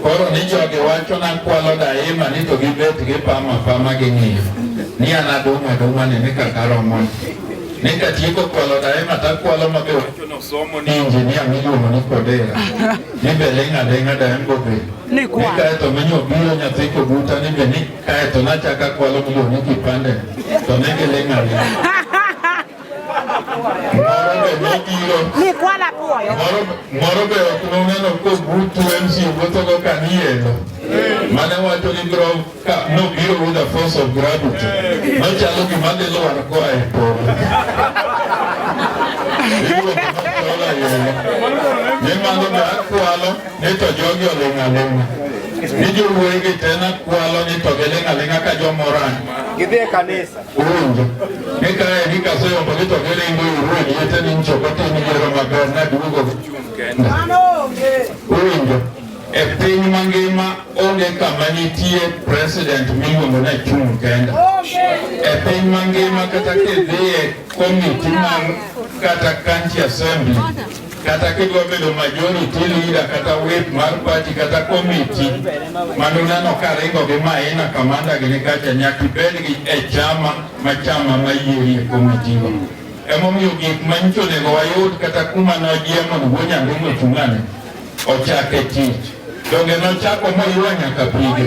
Koro ni jogi wacho na kwalo daima ni to gibet gipamo apama gi ng'iyo ni an adong' adong'a ni ni kaka romo ni katieko kwalo daima takwalo ma be wacho nosomo ni injinia miluongo ni Kodera ni be ling' aling'a daima bobe ni kaeto minyo biro nyathi kobuta ni be ni Kae to nachaka kwalo kulo ni kipande to nenge le ng'awi. Moro be nobiro. Ni kwala puoyo. Moro moro be ok noneno ko butu MC wuotho go ka ni eno. Mane wacho ni bro ka nobiro with the force of gravity. Nochalo gima dhi lwar koa e polo. Ni mano be akwalo. ni to jogi oling' aling'a ni jowuoyi gi te nakwalo ni to giling' aling'a ka jomoran Gidhi e kanisa. uwinjo ni kae ni kaseyombo ni to giringo iru e liete ni nchopo tim yiero maber naduogo uwinjo e piny mangima onge kama nitie president miluongo ni achung' kenda e piny mangima kata kidhiye komiti mar kata county assembly kata kidwa bedo majority leader kata whip mar party kata committee mano nano ka ringo gi maina kamanda gi nikacha nyaka ibed gi e chama ma chama ma yieri e committee go emomiyo gik manyicho onego wayud kata kuma nojiemo ni wuo nyaringo chung'ane ochak e tich donge nochako moywa nyaka pige